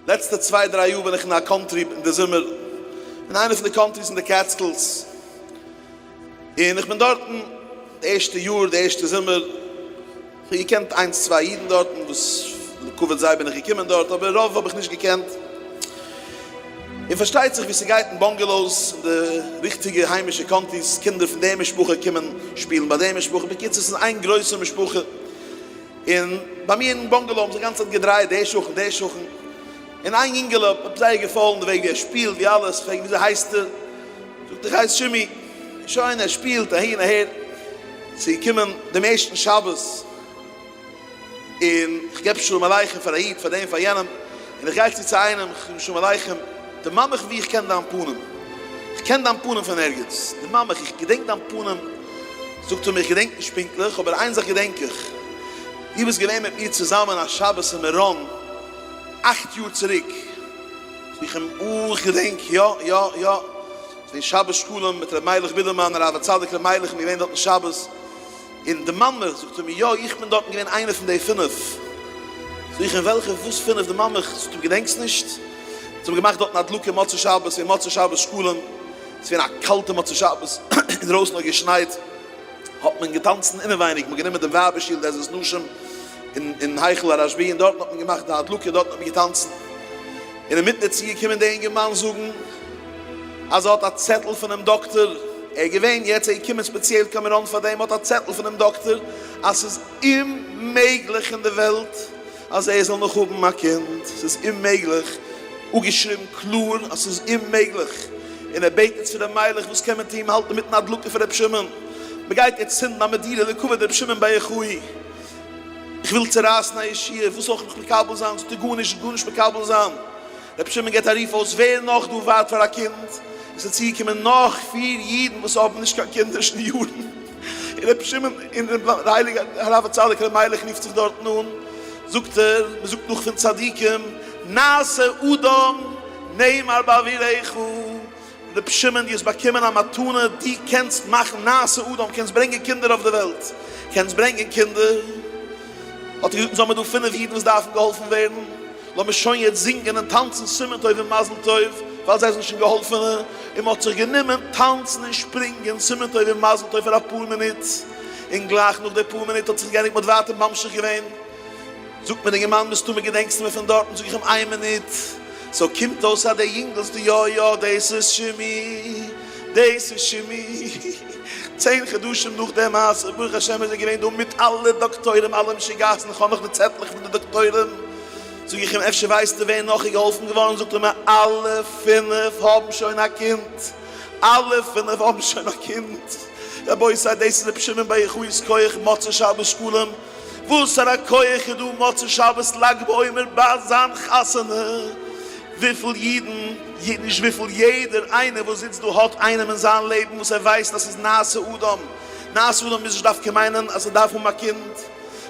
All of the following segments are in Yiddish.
לעצטע צוויי דריי יאר בין איך אין א קאנטרי אין די זומער, אין איינע פון די קאנטריס אין די קעטסקילס, און איך בין דארטן די ערשטע יאר די ערשטע זומער, איך האב געקענט איינס צוויי אידן דארטן וואס לכבוד זיי בין איך געקומען דארט, אבער רוב האב איך נישט געקענט, און פארשטייט זיך ווי ס'גייט אין באנגעלאוס אין די ריכטיגע היימישע קאנטיס, קינדער פון די משפחה קומען שפילן ביי די משפחה, בקיצור ס'איז איין גרויסע משפחה. און ביי מיר אין באנגעלאו האבן זיך גאנצע צייט געדרייעט די שכן די שכן, און איין יונגעלע האט מיר זייער געפאלן די וועג ווי ער שפילט ווי אלעס, כ'פרעג וויאזוי הייסטו? זאגט איך הייס שימי, שוין ער שפילט אהין אהער, צו קומען דעם ערשטן שבת און כ'געב שלום עליכם פאר א איד פאר דעם פאר יענעם, און איך גיי צו צו איינעם, איך זאג שלום עליכם, דערמאן מיך וואו איך קען דיין פנים, איך קען דיין פנים פון ערגעץ, דערמאן מיך, איך געדענק דיין פנים, זאגט ער מיר, איך געדענק נישט פונקטליך, אבער איין זאך געדענק איך, דו ביסט געווען מיט מיר צוזאמען א שבת אין מירון אכט יאר צוריק, זאג איך אים, אה, איך געדענק, יא, יא, יא, ס'איז געווען שבת שקלים מיט ר' מיילעך בידערמאן, הרב הצדיק ר' מיילעך איז געווען דארטן שבת, און די מאַמע זאָגט אים, יאָ, איך בין דאָרטן געװען אײנע פֿון די פֿינף. זאָג איך, און װעלכע? װאָס פֿינף? די מאַמע זאָגט אים, געדענקסט נישט? זײ האָבן געמאַכט דאָרטן הדלקה מוצאי-שבת, ס'איז געװען מוצאי-שבת שקלים, ס'איז געװען אַ קאַלטער מוצאי-שבת, אין דרױסן האָט געשנײט, האָט מען געטאַנצן אינעװײניק, מען האָט גענומען דעם װײַבער-שיל, די עזרת נשים, אין, אין היכל הרשבּי, און דאָרטן האָט מען געמאַכט די הדלקה, דאָרטן האָט מען געטאַנצן. און אין מיטן דערצו געקומען די אינגערמאַן זאָגן. אז ער האט א צעטל פונעם דאקטער, ער איז געווען יעצט, ער איז געקומען ספעציעל קיין מירון פאר דעם, ער האט א צעטל פונעם דאקטער אז ס'איז אוממעגליך אין די וועלט אז ער זאל נאך האבן א קינד, ס'איז אוממעגליך, אפגעשריבן קלאר אז ס'איז אוממעגליך, און ער בעט יעצט פון ר' מיילעך וואס קען מען טון, מען האלט אינמיטן א הדלקה פון ר' שמעון, מען גייט יעצט צינדן א מדינה לכבוד ר' שמעון בר יוחאי, איך וויל צורייסן א ישיבה, וואס זאל איך נאך מקבל זיין, ס'טוט גארנישט, ס'איז גארנישט מקבל זיין. רבי שמעון געבט א רוף אויס ווער נאך דא ווארט פאר א קינד, עס איז צוגעקומען נאך פיר אידן וואס האבן נישט קיין קינדער שוין יארן, און רבי שמעון און רבי די הייליגע הרב הצדיק רבי מיילעך רופט זיך דארטן אן, זאגט ער, מען זאגט נאך פון צדיקים נעשה אדם נאמר באוויריך, ר' שמעון דו האסט באקומען א מתנה, דו קענסט מאכן נעשה אדם, קענסט ברענגען קינדער אויף די וועלט, קענסט ברענגען קינדער, האט ער געזאגט אונז האמיר דא פינף אידן וואס דארפן געהאלפן ווערן, לאמיר שוין יעצט זינגען און טאנצן סימן טוב און מזל טוב, ווייל זיי זענען שוין געהאלפענע, און מען האט זיך גענומען טאנצן און שפרינגען סימן טוב און מזל טוב פאר אפאר מינוט, און גלייך נאך די פאר מינוט האט זיך געענדיגט, מען האט ווייטער ממשיך געווען. זאגט מיר די געמיינדע מסתמא געדענקסטו מיר פון דארטן, זאג איך אים איין מינוט, סאו קומט אויס אז די יונגעלס די יא יא דאס איז שימי דאס איז שימי צען חדשים נאך די מעשה ברוך השם איז ער געווען דא מיט אלע דאקטוירים אלע משוגעת'ן איך האב נאך די צעטלעך פון די דאקטוירים זאג איך אים אפשר ווייסטו ווער נאך איז געהאלפן געווארן זאגט ער מיר אלע פינף האבן שוין א קינד אלע פינף האבן שוין א קינד רבותי דאס איז רבי שמעון בר יוחאי'ס כח מוצאי שבת שקלים. וואסארא כח איז דא מוצאי שבת לג בעומר ביי זיין חתונה? וויפיל אידן, נישט וויפיל, יעדער איינער וואס זיצט דא האט איינעם אין זיין לעבן וואס ער ווייסט אז ס'איז נעשה אדם. נעשה אדם מוז נישט דווקא מיינען אז ער דארף האבן א קינד.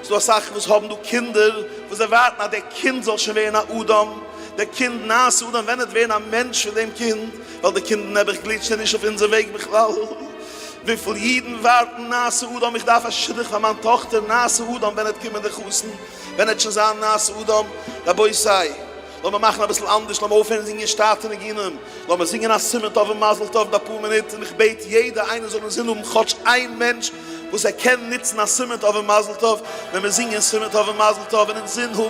ס'דא אסאך וואס האבן דא קינדער וואס זיי ווארטן אז דער קינד זאל שוין ווערן א אדם. דער קינד נעשה אדם ווענדט ווערן א מענטש פון דעם קינד, ווייל די קינדער נעבעך גליטשט ער נישט אויף אונזער וועג בכלל. וויפיל אידן ווארטן נאו סעודה אום איך דארף א שידוך פאר מיין טאכטער נאו סעודה אום ווען עט קומען די חתן ווען עט שוין זיין נאו סעודה אום רבותי לאמער מאכן אביסל אנדערש לאמער אויפהערן זינגען שטאטע ניגונים לאמער זינגען א סימן טוב און מזל טוב ביי פאר מינוט און איך בעט יעדע איינער זאל אינזין האבן כאטש איין מענטש וואס ער קען נוצן א סימן טוב און מזל טוב ווען מיר זינגען סימן טוב און מזל טוב און אינזין האבן